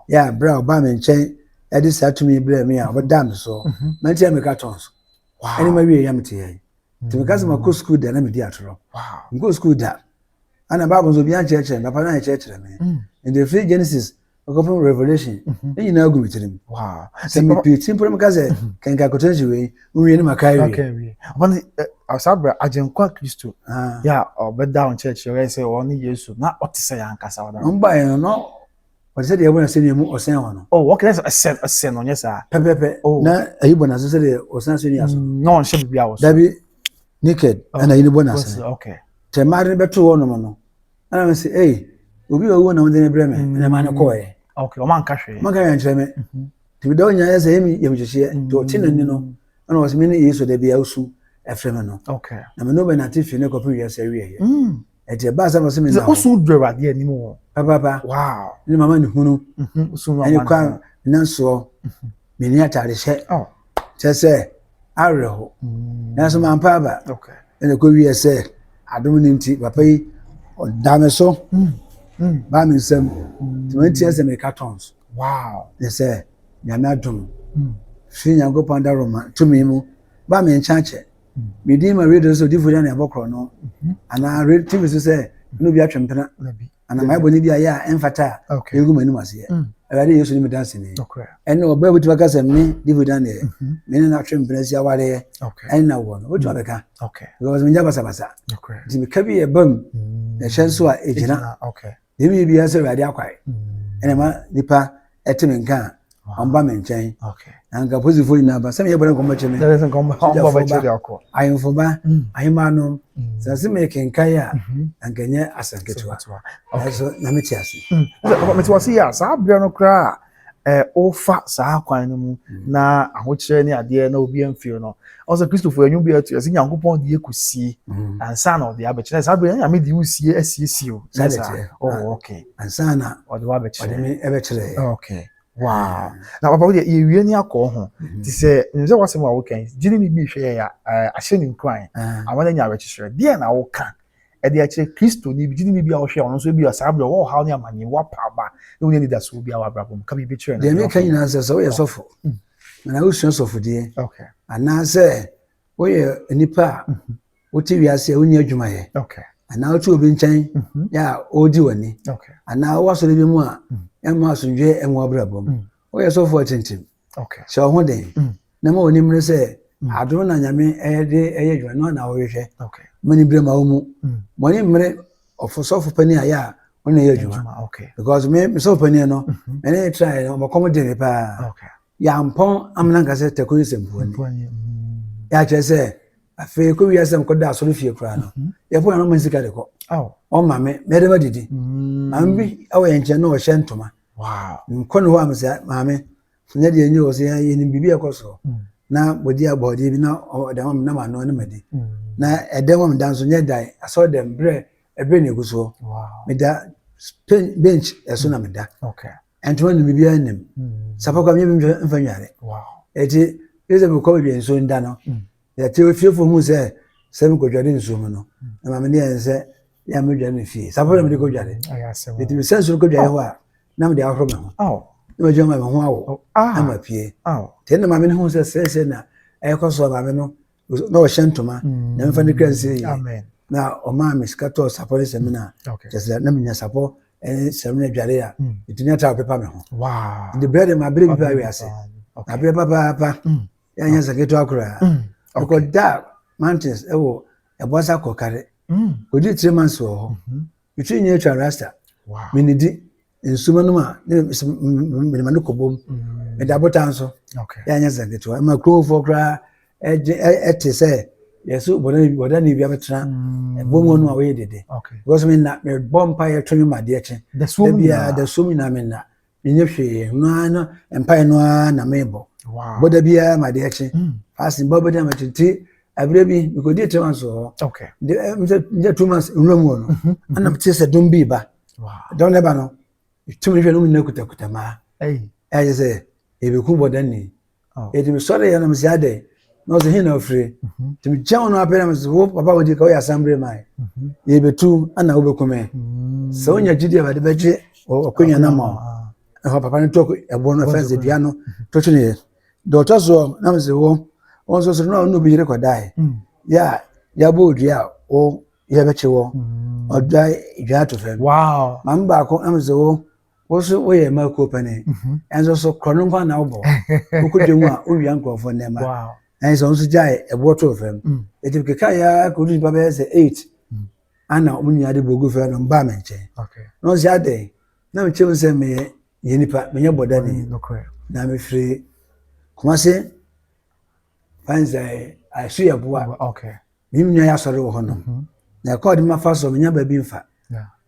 [SPEAKER 1] yɛ a berɛ a
[SPEAKER 2] ɔbaa me
[SPEAKER 1] nkyɛn ɛde saa tumi berɛ me a ɔbɛdaa me so mhm. manti a meka tɔn so ɛne ma wie
[SPEAKER 2] yam te yɛn
[SPEAKER 1] nti meka sɛ makɔ sukuu da na medi atorɔ mekɔ sukuu
[SPEAKER 2] da
[SPEAKER 1] ana bible nso obi ankyerɛkyerɛ me papa no ankyerɛkyerɛ me mm. nti ɛfiri genesis ɔkɔ fam revolution ne nyinaa agu me tirim sɛ mepie
[SPEAKER 2] ti mpɔrɔ
[SPEAKER 1] meka sɛ kɛnka akɔtena si wei nwie ne maka awie ɔne
[SPEAKER 2] saa berɛ agyenkwa kristo yɛ a ɔbɛda wo nkyerɛkyerɛ ɔyɛ sɛ ɔne yesu na ɔte sɛ yɛ ankasa ɔda ɔmbaeɛ no na
[SPEAKER 1] ɔte sɛ deɛ ɛbɔ n'asɛ nua mu ɔsɛn hɔ no oh wɔkɛ sɛ ɛsɛ ɛsɛ
[SPEAKER 2] no nyɛ saa
[SPEAKER 1] pɛpɛpɛ
[SPEAKER 2] na
[SPEAKER 1] ayi
[SPEAKER 2] bɔ
[SPEAKER 1] n'asɛ sɛ deɛ ɔsɛn
[SPEAKER 2] asɛ nua
[SPEAKER 1] so na
[SPEAKER 2] ɔnhyɛ
[SPEAKER 1] biribi a wɔ
[SPEAKER 2] so
[SPEAKER 1] dabi naked ɛna yi ne bɔ n'asɛ tɛmaade
[SPEAKER 2] no bɛto
[SPEAKER 1] hɔ nom no ɛna me sɛ ei obi a ɔwuo na wode no brɛ me na ma no kɔɛ okay ɔma nka hwee ɔma
[SPEAKER 2] nka hwee nkyerɛ me mhm.
[SPEAKER 1] nti meda wo nyinaa sɛ ɛmi yɛ mekyekyeɛ nti ɔte no ni no ɛna ɔsɛ me ne yesu da bia wosu ɛfrɛ me no na me ne wobɛnate
[SPEAKER 2] fie
[SPEAKER 1] ne kɔpem wiase awieɛ mm. ɛti ɛbaa sɛ ɔsɛ me na wosu dɔ awurade anim
[SPEAKER 2] wɔ papaapa
[SPEAKER 1] ne mama
[SPEAKER 2] ne hunu
[SPEAKER 1] mhm, ɛne kwa nansoɔ mhm. menni atade hyɛ oh. kyɛ sɛ awerɛho mm. nanso mampa aba ɛna ɛkɔ wiɛ
[SPEAKER 2] sɛ
[SPEAKER 1] adom no nti papa yi ɔda me so mm. Mm. baa me nsam nti mantia sɛ meka tons ne sɛ nyame adom firi nyankopɔn daroma tumi mu baa me nkyɛn akyɛ Me din ma radio so odiifo yɛ na ɛbɔ korɔ no anaa radio tv so sɛ ɛna obi atwe mpena anaa mayɛ bɔne bi ayɛ a ɛmfata a ɛgu m'anim aseɛ mm. awurade yesu ne meda ase ne ɛne ɔbaa bɛtumi aka sɛ me diifo dan deɛ mm-hmm. me ne no atwe mpena si awareɛ ɛne na woɔ no wobɛtumi mm. abɛka because menya basabasa nti meka bi yɛ bam mm. na ɛhyɛ nso a ɛgyina deɛ meyɛ biara sɛ awurade akwae ɛna ma nipa ɛte me nka a ɔmba me nkyɛn na nka posifoɔ nyinaa ba sɛ meyɛ bɔne nkɔmmɔkye me sogyafoɔ
[SPEAKER 2] ahemfo ba mm.
[SPEAKER 1] ahema nom mm. sɛ se mekenkae a mhm. na nka ɛnyɛ asɛm ketewa nanso na mete ase mm. mete ase
[SPEAKER 2] yɛ a saa berɛ no koraa wofa saa kwan no mu na ahokyerɛ ne adeɛ na obi amfiri no ɔsɛ kristofo anwu bi atu ɛsɛ nyankopɔn de yɛkɔ sie mm. ansa na ɔde abɛkyerɛ saa bere nyame de wosie asiesie o sɛ saa oh ah, okay ansa na ɔde
[SPEAKER 1] wabɛkyerɛ ɔde me
[SPEAKER 2] ɛbɛkyerɛ
[SPEAKER 1] oh, okay
[SPEAKER 2] wow mm. na papa wodeɛ yɛwie ne akɔ ho mm-hmm. te sɛ nim sɛ wasɛm a wokan gyene ne bi hwɛ yɛ eh, ahyɛ ne nkuran ah. ama no anya awerɛkyekyerɛ deɛ na woka ɛde akyerɛ Kristoni bi, gyidini bi a ɔhwɛ ɔno nso ebi a saa bere ɔwɔ ɔhaw ne amanneɛ, wapa aba, na ɔnyɛ anidasoɔ bi a wɔ abrabɔ mu. Ka biribi kyerɛ no. Deɛ meka nyinaa sɛ sɛ woyɛ
[SPEAKER 1] oh. sɔfo mm. na wosua sɔfodeɛ anaasɛ woyɛ nipa a mm-hmm. wote wiase a wonni adwumayɛ anaa wote
[SPEAKER 2] obi nkyɛn
[SPEAKER 1] mm-hmm. yɛ a ɔredi w'ani anaa wowɔ asɔre
[SPEAKER 2] bi mu
[SPEAKER 1] a mm. ɛmma asomdwoeɛ ɛnwɔ abrabɔ mu mm. woyɛ sɔfo atintim hyɛ wo ho den mm. na ma w'anim no sɛ mm. adom na nyame de ɛyɛ adwuma no na wohwehwɛ ma ne berɛ ma
[SPEAKER 2] wo mu
[SPEAKER 1] mɔne mm. mmerɛ ɔfosɔfo pani ayɛ a ɔna ɛyɛ adwuma because me mesɔfo
[SPEAKER 2] pani
[SPEAKER 1] no mm-hmm. ɛne traɛ no ɔmɔkɔm de me paa yɛampɔn amena nka sɛ tako yɛ sɛmpuani yɛakyerɛ sɛ afei kɔ wiase m kɔda asɔre fie koraa no mm-hmm. yɛfo nano ma sika de kɔ ɔma me mɛdɛma didi maame bi ɛwɔ yɛn nkyɛn na ɔhyɛ ntoma Wow! Mekɔ
[SPEAKER 2] ne hɔ a mesɛ
[SPEAKER 1] maame nyɛ deɛ nyɛ o sɛ yɛnim biribi a ɛkɔ soɔ mm. na wɔdi abɔdeɛ bi na ɔde ama me na manoa ne madi mm. na ɛdɛm a meda nso nyɛ dan asɔ dɛm berɛ ɛberɛ ne ɛgu soɔ meda bench ɛso na meda ɛntoma nim biribiara nim mm. sapa kɔ a menyɛ bi mfa nwane ɛti ɛsɛ mekɔ baabi a nsuo nda no Yɛte ofiefoɔ hu sɛ sɛ mekɔdware nsuo mu no na maame ne yɛn sɛ yɛ a medware me fie saa pɛ na mede kɔdware ɛti me sɛ nsuo kɔdware hɔ a na mede ahoro me ho na madwuma ma me ho awo na mapue tɛ na maame no hu sɛ sɛsɛ na ɛkɔ so maame no na ɔhyɛ ntoma na mefa ne kra nsie yie na ɔmaa me sika tɔɔ sapɔ ne sɛmina kyɛ sɛ na menya sapɔ ne sɛmina dware a ɛtumi ata ɔpepa me ho de brɛ de ma berɛ bi paa wiase aberɛ papaapa Yɛanyɛ sɛ ketewa koraa. Mm, okay. Mekɔdaa mountains ɛwɔ ɛbɔsa kɔkare. Mm. Kɔdi three months wɔ hɔ. Mm-hmm. Metwi nyɛ atwa rasta. Wow. Menidi nsuo nom a ne menema no kɔbom. Mm. Meda botan so. Okay. Yɛanyɛ sɛ ketewa. Ɛma kurofoɔ koraa ɛte sɛ yɛso bɔda ne bi abɛtena mm. ɛbom hɔ no a wɔyɛ dede. Okay. Because menna mebɔ mpa yɛtwe me madeɛ kye. Da suom nyinaa. Da suom nyinaa menna. menyɛ hwee no ara na mpae no ara na mebɔ bɔda biara ma adeɛ kye hmm. fasin bɔ bɛda ma tete abirɛ bi mekɔdi three months wɔ hɔ mekyɛ two months nwura mu wɔ no mhm, mhm. ana mete sɛ dom bi ba dɔm no ba no tumi hwɛ no mu nyina kutakuta maa ɛyɛ sɛ ɛbɛku bɔda ni Eti mesɔre yɛ na mese adɛn na ɔse he na ofire nti mekyia wɔn apɛ na mese wo papa wodi ka woyɛ asambere man yɛbɛtu ana wobɛku me sɛ wonya gyidi a wɔde bɛgye ɔkwanya no ma ɛhɔ papa no tɔ ɛboɔ no fɛnse dua no to twe ne yɛ deɛ ɔtɔ soɔ na mese wo wɔn nso soro na ɔno obi yere kɔdae yɛ a yɛabɔ odua a wo yɛbɛkye wɔ ɔdwa dwa ato fam maame baako na mese wo Wo so woyɛ mmaa kuo panin. Ɛnso mhm. so korɔ no nkwa na wobɔ. Wokɔ dwa mu a wowia nkurɔfoɔ nneɛma. Ɛn sɛ nso gyae ɛboɔ too fam. Mm. Ɛti keka yɛ akɔdu nipa bɛyɛ sɛ eight. Mm. Ana wɔn nyinaa de bogu fam no mbaa me nkyɛn. Na ɔsɛ adɛn na mekyerɛ mu sɛ meyɛ yɛ nipa menyɛ bɔdani. Na mefiri Kumase fansɛ asu yɛ boa. Menim nyinaa yɛ asɔre wɔ hɔ nom. Mhm. Na ɛkɔɔ de ma fa so menya baabi mfa.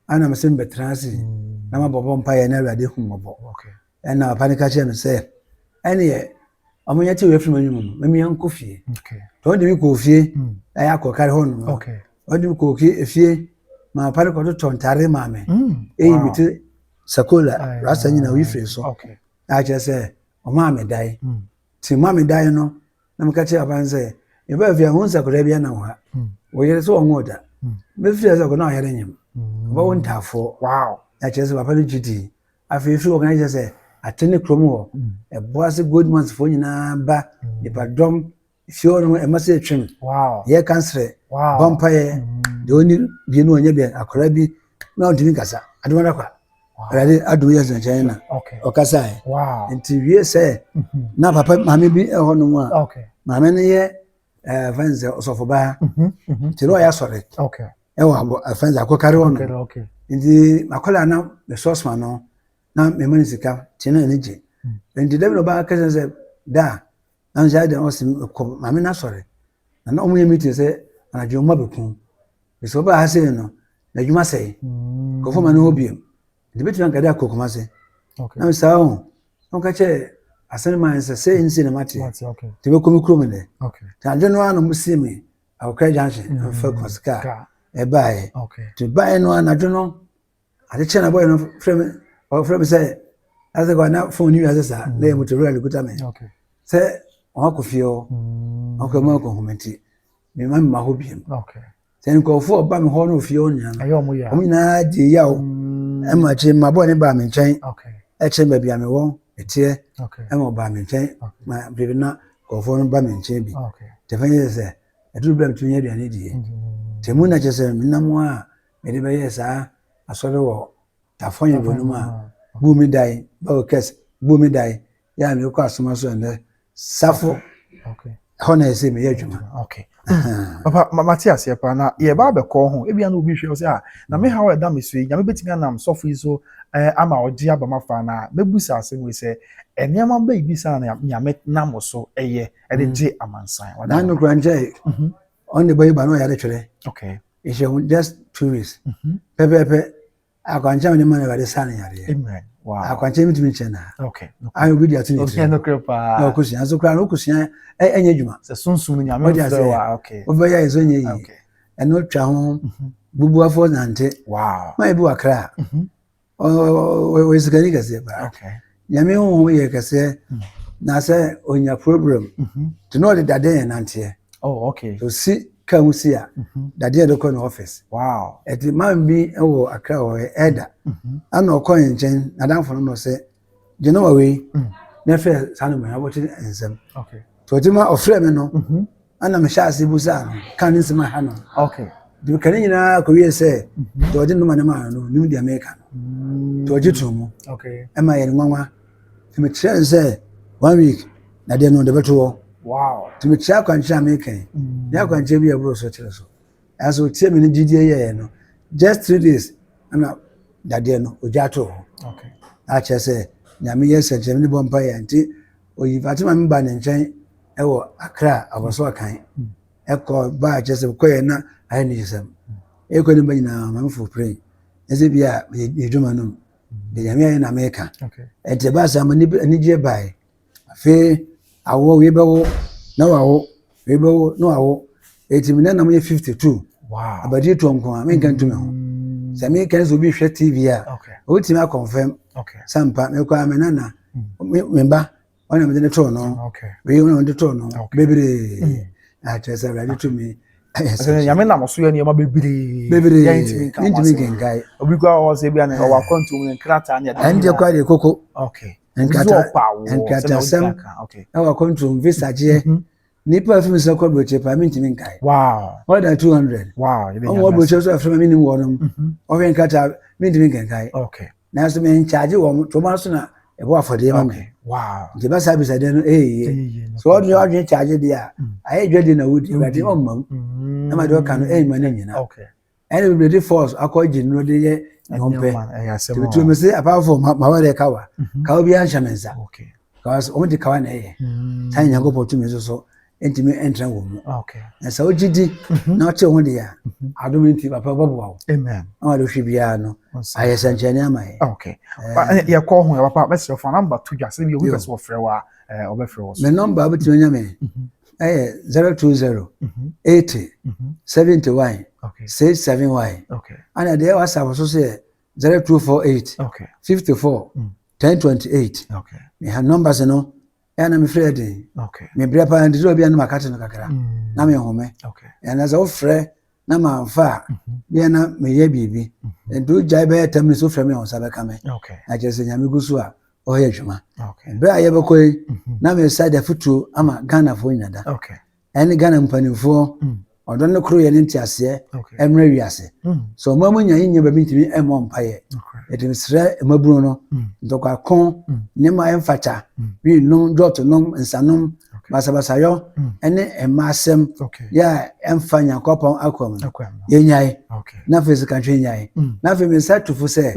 [SPEAKER 1] ana me sɛ mbɛtena ase mm. na mabɔbɔ mpaeɛ na awurade hu mmɔbɔ ɛna papa no ka kyerɛ me sɛ ɛneɛ ɔmo nyɛ tewerɛ firi m'anwuma mu mamia nkɔ fie tɔ ɔde bi kɔɔ fie mm. na yɛ akɔkare hɔ nom ɔde bi kɔɔ fie ma papa no kɔtotɔ ntare maa me mm. ɛyi me te sakola rasa nyina oyi firi so na akyerɛ sɛ ɔmaa me dae Nti ma me dae no na meka kyerɛ papa no sɛ mebaa fie a wohu sɛ akwadaa bi anam ha wɔyere sɛ ɔnwoo da mɛfiri ase ɔkɔ na ɔyere nyem ɔba wo ntaafoɔ wow na kyerɛ sɛ papa no gye dii afei firi ɔkana kyerɛ sɛ ate ne kurom hɔ ɛboa se gold months foɔ nyinaa ba nipadɔm fie hɔ no ɛma sɛ ɛtwam yɛ kansere bɔmpayɛ deɛ ɔni bie no ɔnyɛ bɛn akwadaa bi na ɔntumi nkasa adomada kwa Awurade adom yɛ gyinagyinaeɛ na ɔkasaeɛ nti wie sɛ mhm. na papa maame bi ɛhɔ nom a maame no yɛ eh, fɛn sɛ ɔsɔfobaa mhm, mhm. nti na ɔyɛ asɔre ɛwɔ fɛn sɛ akɔkare hɔ nom nti makɔla na mesɔsma no na mema no sika nti na ɛne gye nti dɛm na ɔbaa kɛsɛ sɛ da na nhyɛ dɛn ɔsɛ kɔ maame no asɔre Na na wɔyɛ meeting sɛ anadwo mma bɛku. Bɛsɛ wɔbaa ha sei no, na adwuma sɛe. Mm. Nkurɔfoɔ ma ne hɔ biom. Nti bɛtumi anka dɛ akɔ Kumase. Okay. Na saa ho, na wɔka kyɛ asɛm ma sɛ sɛ nsi na mate. Okay. Nti bɛkɔ me kurom dɛ. Okay. Nti anadwo no ara na wɔsi me Akokra Junction, mm. mfa Kumase kaa. Ɛbaeɛ. Okay. Nti baeɛ no anadwo no, Ade kyɛ na bɔyɛ no frɛ me ɔfrɛ me sɛ asɛ kwa na fon ni wiase saa na yɛ motorola no kuta me sɛ wɔn akɔ fie hɔ mm. wɔn akɔ mu akɔ nhoma nti me ma me ma hɔ biem sɛ nkurɔfoɔ ɔba me hɔ na ofie hɔ nyinaa no wɔn nyinaa gye ya o mm. ɛma akyi ma bɔyɛ ne baa me nkyɛn ɛkyɛn baabi a me wɔ ɛteɛ ɛma ɔbaa me nkyɛn ma biribi na nkurɔfoɔ no ba me nkyɛn bi tɛfɛn yɛ sɛ ɛduru bɛrɛ mi tumi yɛ aduane die tɛmu na kyɛ sɛ menam a mede bɛyɛɛ saa asɔre wɔ Tafoyn Bonom a buu me dae, Bawel Kes buu me dae, yɛ a mekɔ asoma so ɛnnɛ Safo hɔ na ɛsɛ meyɛ adwuma. Okay. Mm. Papa,
[SPEAKER 2] ma mate aseɛ paa na yɛba abɛkɔ ho ebia na obi hwɛ wo sɛ a ah, na me haw a ɛda me so yi nyame bɛtumi anam sɔfo yi so eh, ama ɔgye aba ma fa na mɛbu sɛ asɛm wei sɛ eh, nneɛma bɛyi bi saa na nyame nam so ɛyɛ ɛde mm. gye amansan na nokora nkyɛ
[SPEAKER 1] mhm. ɔne bɛyi ba na ɔyɛ de twerɛ okay. Nhyɛ ho just two weeks. Mhm. Pɛpɛɛpɛ akwankyɛn a wɔde ma no Awurade saa no yareɛ. Amen. Wow. Akwankyɛn
[SPEAKER 2] mitumi nkyɛn na.
[SPEAKER 1] Okay. No. Ayɛ obi de ato ne tiri. Ɔkɛ no kura paa. Na
[SPEAKER 2] ɔkosua nso kura no
[SPEAKER 1] ɔkosua ɛnyɛ adwuma. Sɛ sunsun nyame
[SPEAKER 2] fɛ wa okay. Ɔbɛyɛ ɛsɛ nyɛ yi. Okay.
[SPEAKER 1] Ɛno twa ho mhm. bubuafo nante. Wow. Mayɛ bi wɔ
[SPEAKER 2] akra. Mhm.
[SPEAKER 1] ɔyɛ sikani kɛseɛ paa nyame honhom yɛ kɛseɛ hmm. na sɛ ɔnya problem mhm. nti na ɔde dadeɛ yɛ nanteɛ oh, ɔsi ka ho si a mhm. dadeɛ de kɔ ne office ɛti man
[SPEAKER 2] bi
[SPEAKER 1] wɔ akra wɔ ɛda mhm. ana ɔkɔ yɛ nkyɛn nadamfo no no sɛ Genoa wei na ɛfrɛ saa no bɛn abɔkye nsɛm nti ɔgye ma ɔfrɛ me no ɛna mehyɛ ase bu saa no ka ne nsɛm aha no de ka ne nyinaa kɔwie sɛ deɛ ɔgye nnoma ne maa no nim deɛ meka no nti ɔgye too mu ɛma yɛ ne nwanwa nti mekyerɛ no sɛ one week na deɛ no ɔde bɛto hɔ nti mekyerɛ
[SPEAKER 2] akwankyerɛ a
[SPEAKER 1] meka yi ne akwankyerɛ bi a ɛboro so kyerɛ so Nanso tie me ne gyidie yɛɛ no just three days ɛna dadeɛ no ogya too hɔ na akyerɛ sɛ nyame yɛ sɛnkyerɛ ne bɔ mpa yɛ nti oyi fatima me ba ne nkyɛn ɛwɔ akra abɔso ɔkan hmm. ɛkɔ ba akyerɛ sɛ kɔyɛ na ayɛ ne yisɛm ɛkɔ ne ba nyinaa ma mfo pere ɛsɛ bi a yɛdwuma no mu hmm. nyame ayɛ na meka ɛnti ɛbaa sɛ ama anigyeɛ baeɛ Afei awo wei bɛwo na wawo wei bɛwo na wawo eti mi nana mo yɛ fifty two abadi tɔ
[SPEAKER 2] nko a menka
[SPEAKER 1] ntumi ho sɛ meka sɛ obi hwɛ tv a wotumi akɔnfɛm sɛ mpa mekɔ a me nana me ba ɔna mede ne tɔɔ no wei ɔna mede tɔɔ no bebree mm. na akyerɛ sɛ awurade tumi sɛ nyame nam
[SPEAKER 2] so yɛ nneɛma bebree bebree
[SPEAKER 1] yɛntumi nka ho asɛm obi kɔ a ɔwɔ sɛ
[SPEAKER 2] bi a na ɔwɔ akwantuom ne nkrataa ne ɛdeɛ kɔ adeɛ koko
[SPEAKER 1] okay
[SPEAKER 2] nkrataasɛm na
[SPEAKER 1] wakɔntro mvisagyeɛ mhm. nipa afiri mi sɛ kɔ aburokyire paa mentumi nkae more than
[SPEAKER 2] two
[SPEAKER 1] hundred ɔmo wɔ aburokyire
[SPEAKER 2] so afiri
[SPEAKER 1] ma menim wɔnom mhm. ɔhwɛ nkrataa mentumi nkankae nanso menkyagye wɔn tɔmɔ aso na ɛbɔ afɔdeɛ ma me nti bɛsa
[SPEAKER 2] abisadeɛ no
[SPEAKER 1] ɛyɛ sɛ ɔde ɔdwene kyagye deɛ a mm. ayɛ dwadi na wodi awurade ɔmma mu na ma deɛ ɔka no ɛyɛ ma no nyina Ɛna bebree de force akɔ gye nnuro de yɛ ne ho pɛ. Tutu mi se apart from mawa de kawa, mhm. kawa bi anhyɛ mi nsa. Because wɔn de kawa na ɛyɛ. Mm. Saa nyanko pɔ tumi nso so ntumi ntra wɔn mu. Ah, na sɛ wogye
[SPEAKER 2] di
[SPEAKER 1] mhm. na ɔkye ho deɛ mhm. adom nti papa bɛboa wo. Amen. Na wɔde hwɛ
[SPEAKER 2] biara no
[SPEAKER 1] ayɛ sɛnkyerɛnne ama yɛ. Ah, okay.
[SPEAKER 2] Eh. Yɛ kɔ ho yɛ papa bɛsrɛ fo namba to dwa sɛ bi obi pɛ sɛ wɔfrɛ wa ɔbɛfrɛ wɔ so. Me namba wobɛtumi anya me
[SPEAKER 1] ɛyɛ zero two zero eighty seventy one six
[SPEAKER 2] seven
[SPEAKER 1] one ɛna deɛ
[SPEAKER 2] whatsapp so
[SPEAKER 1] so yɛ zero two four
[SPEAKER 2] eight
[SPEAKER 1] fifty four ten twenty eight
[SPEAKER 2] meha numbers no
[SPEAKER 1] ɛyɛ na mefrɛ yɛ den mebrɛ paa nti
[SPEAKER 2] sɛ obi
[SPEAKER 1] anom akate no kakra mm. na menhome ɛna sɛ
[SPEAKER 2] wofrɛ
[SPEAKER 1] na mamfa a mhm. bia na meyɛ biribi mhm. nti wogyae bɛyɛ tam ne so frɛ me a wo nsa bɛka me na kyerɛ sɛ nyame gu
[SPEAKER 2] so
[SPEAKER 1] a ɔyɛ adwuma berɛ a yɛbɛkɔ
[SPEAKER 2] yi
[SPEAKER 1] mhm. na mesa de afotuo ama mhm. ghanafoɔ nyina da ɛne ghana mpanimfoɔ mhm. ɔdɔ no koro yɛ ne nteaseɛ mmerɛ wiase sɛ ɔma mu nya yɛnya baabi ntumi mmɔ mpayɛ yɛde mesrɛ mmabunu no ntɔkwako nneɛma a ɛmfata winom dɔɔtonom nsanom basabasayɔ ɛne mma asɛm yɛ a ɛmfa nyankopɔn akɔ mu yɛnyae na afei sɛ kantwe nyae na afei mesa tufo sɛ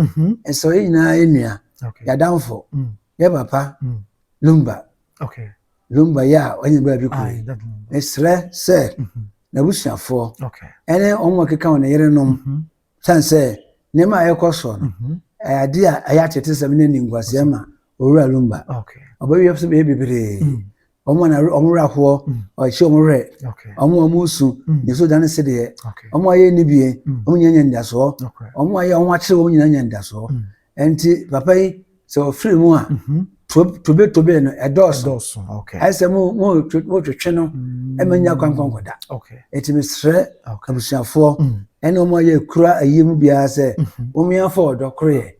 [SPEAKER 1] ɛsɛ ɔyɛ nyinaa yɛnua okay. yɛadamfo mm. yɛ papa mm. lumba okay. lumba yɛ a ɔnyɛ baabi kure mesrɛ sɛ mm-hmm. n'abusuafoɔ okay. ɛne wɔn a wɔkeka wɔn yerenom mm-hmm. sane sɛ nneɛma a ɛkɔ soɔ no mm-hmm. ɛyɛ adeɛ a ɛyɛ atetesɛm ne animguaseɛ ma owura lumba ɔbɛwiɛ sɛ bɛyɛ bebree mm. wɔn a na wɔn werɛ ahoɔ ɔhyɛ wɔn werɛ wɔn a wɔn su ne so dane se deɛ wɔn a yɛ ni bie wɔn nyinaa nya nidasoɔ wɔn a yɛ wɔn akyere wɔn nyinaa nya nidasoɔ nti papa yi sɛ ɔfiri mu a tobe tobe no ɛdɔɔso ɛsɛ mo mo mo twetwe no ɛmɛ nya kwankwankɔda ɛti mi srɛ abusuafoɔ ɛna wɔn a yɛ kura ayie mu biara sɛ wɔn yɛn afɔ ɔdɔ koro yɛ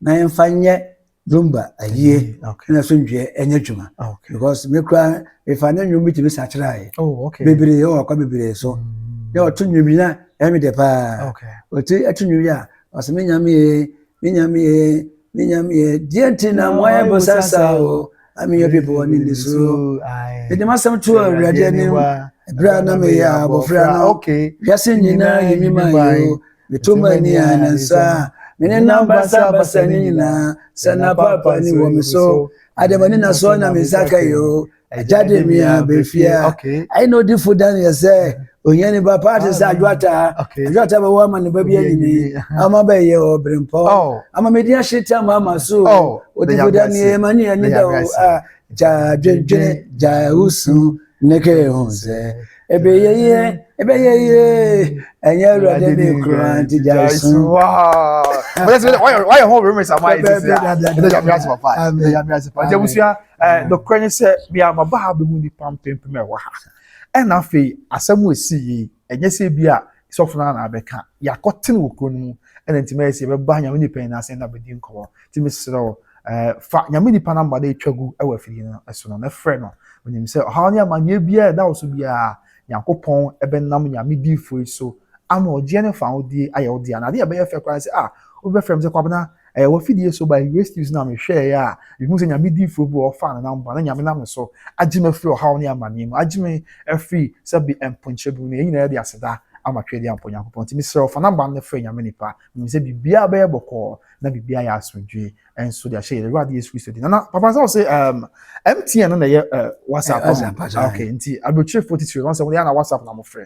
[SPEAKER 1] na yɛn fa nyɛ. Zumba ayie mm, na asomdwoeɛ ɛnyɛ adwuma ah, because me koraa mefa ne nnwom bi tumi sakyerɛeɛ oh, bebree ɛwɔ akwa bebree so mm. na ɔto nnwom yi na ɛyɛ me dɛ paa ɔti ɛto nnwom yi a ɔsɛ me nyamee me nyamee me nyamee deɛ nti na moayɛ bo sasa o ameyɛ bi bɔ ne nisuo mede masɛm to awurade anim ɛberɛ a na meyɛ abɔfra no wiase nyinaa
[SPEAKER 2] yɛ
[SPEAKER 1] me ma yɛ o Meto m'ani a na nsa a me nenam basabasa no nyinaa sɛ na paapaani wɔ me so. Adɛn ma ninasoɔ na me nsa ka yi o, agya de me aba fie a. Ɛnna odifo Daniel sɛ, Ohiani ba paa te sɛ adwoataa. Adwoataa bɛwɔ ama ne ba bi anyini, ama bɛyɛ ɔberempɔ, ama medin ahye tam ama so o. Odifo Daniel, ma ne ani da o a, gya adwendwene, gya ahusu, ne kɛ ho sɛ. Ɛbɛyɛ yie, ɛbɛyɛ yie, ɛnyɛ awurade ne kura nti gya esu.
[SPEAKER 2] Wayɛ hɔ remix ama ayɛ sisi a, ɛdɛ nyame ase papa, ɛdɛ nyame ase papa. Nti abusua, nɔkorɛ ne sɛ, me a maba ha bɛhu nnipa mpempem a ɛwɔ ha. Ɛna afei, asɛm a ɛsi yi, ɛnyɛ sɛ bi a sɔfo no na abɛka yɛakɔtene wɔ kuro no mu ɛna nti mɛyɛ sɛ yɛbɛba nyame nipa yi n'ase na bɛdi nkɔmmɔ nti mesrɛ wo eh, fa nyame nipa namba na ɛtwa gu wɔ afidie no so no na frɛ no onim sɛ ɔhaw ne amanneɛ biara ɛda wo so biara nyankopɔn ɛbɛnam nyame diifoɔ yi so ama ɔgyeɛ ne fa wodie ayɛ wodie ana adeɛ ɛbɛyɛ fɛ koraa sɛ a ah, wobɛfrɛ m sɛ kwabena Ɛyɛ wɔ fidie so by Grace Steves na mehwɛeɛ a mehu sɛ Nyame diifoɔ bi wɔ hɔ ɔfaa ne nam ba na Nyame nam ne so agye me afiri ɔhaw ne amaneɛ mu agye me afiri sɛ be mponkyerɛ bi mu na yɛn nyinaa yɛde aseda ama Tweadeɛ Ampa Onyankopɔn nti mesrɛ wo fa number no na frɛ Nyame nipa menim sɛ biribiara bɛyɛ bɔkɔɔ na biribiara ayɛ asomdwie nso de ahyɛ yɛn Awurade Yesu Kristo din nana papa sɛ wo se um, MTN no na ɛyɛ uh, WhatsApp eh, no okay nti aburokyerefo titiri no sɛ wɔn yɛ na WhatsApp na mo frɛ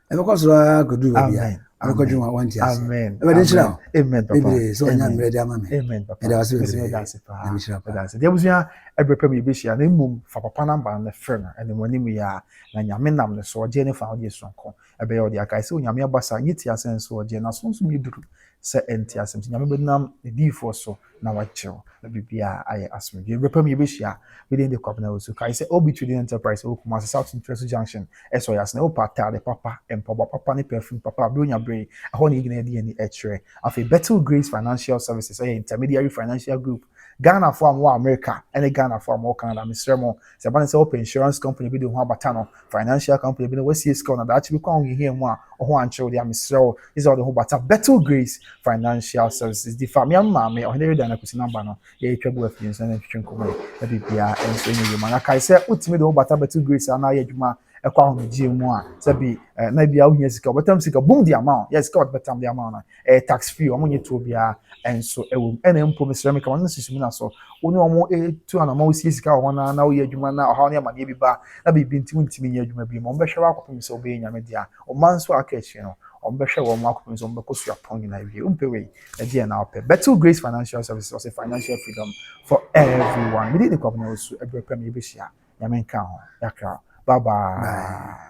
[SPEAKER 1] ɛbɛkɔ soro ara akɔduru baabi a mɛkɔdwe wɔn a wɔnte ase ɛbɛde nhyira wo bebree sɛ
[SPEAKER 2] ɔnya mmerɛ de ama
[SPEAKER 1] me ɛda
[SPEAKER 2] wase bebree na mehyira pa deɛ abusua ɛberɛ pɛ mu yɛbɛhyia na mmom fa papa namba no frɛ no ɛne mu anim yɛ a na nyame nam ne so ɔgyeɛ ne fa wode sonko ɛbɛyɛ ɔde akae sɛ onyame abasa nyɛ ti asɛn so ɔgyeɛ na sonso yɛ duru Sɛ ɛnte asɛm sɛ Nyame bɛnam n'adiyifoɔ so na wakyerɛ wo na biribiara ayɛ asomdwoeɛ. Berɛ pa mu yɛbɛhyia. Me din de Kwabena Owusu. Kae sɛ OB Trading Enterprise wɔ Kumasi South Ntrɛsu Junction sɛ ɔyɛ asene. Wopɛ ataade papa, mpaboa papa ne perfume papa a, Buronya Bere, ɛhɔ na yɛn nyinaa di yɛn ani kyerɛ. Afei Bethel Grace Financial Services yɛ intermediary financial group. Ghanafoɔ a mowɔ Amerika ne Ghanafoɔ a mowɔ Canada, mesrɛ mo, Sɛ ɛba no sɛ wopɛ insurance company bi de wo ho abata no, financial company bi na woasie sika wo na daakye bi kɔ a wohiahia mu a wo ho ankyere wo de a, mesrɛ wo, gye sɛ wode wo ho bata Betel Grace Financial Services di fa. Me ara me maame, Ɔhene Reda ne Akwasi Namba no, yɛretwa gu afie nso na yɛtwetwe nkɔmmɔ yi, na biribiara nso nyɛ yie ma. Na kae sɛ wotumi de wo ho bata Betel Grace a na ayɛ adwuma ɛkɔ ahomegyeɛ mu a, sɛ bi eh, na ebia wohia sika, wɔbɛtam sika bum de ama wo, yes, sika wɔde bɛtam de ama wo no. ɛyɛ tax free wɔn nyɛ tuo biara nso ɛwɔ mu ɛna mpo mesrɛ meka wɔn sisi mu na so wɔn ne wɔn etu anamɔ wɔsi sika wɔ hɔn na wɔyɛ adwuma na ɔhaw ne amaneɛ bi ba na biribi nti wɔntumi nyɛ adwuma bi mu wɔn bɛhwɛ wɔn akɔpem sɛ wɔbɛyɛ nyame dea ɔma nso a aka akyire no wɔn bɛhwɛ wɔn wɔn akɔpem sɛ wɔn bɛkɔ so apɔn nyinaa wie mpɛ wei ɛdi yɛn na ɔpɛ Betel Grace Financial Services ɔsɛ financial freedom for everyone mede ne kwabena wɔ su ɛbrɛ pɛ me yɛbɛhyia nyame nka ho yakra bye bye.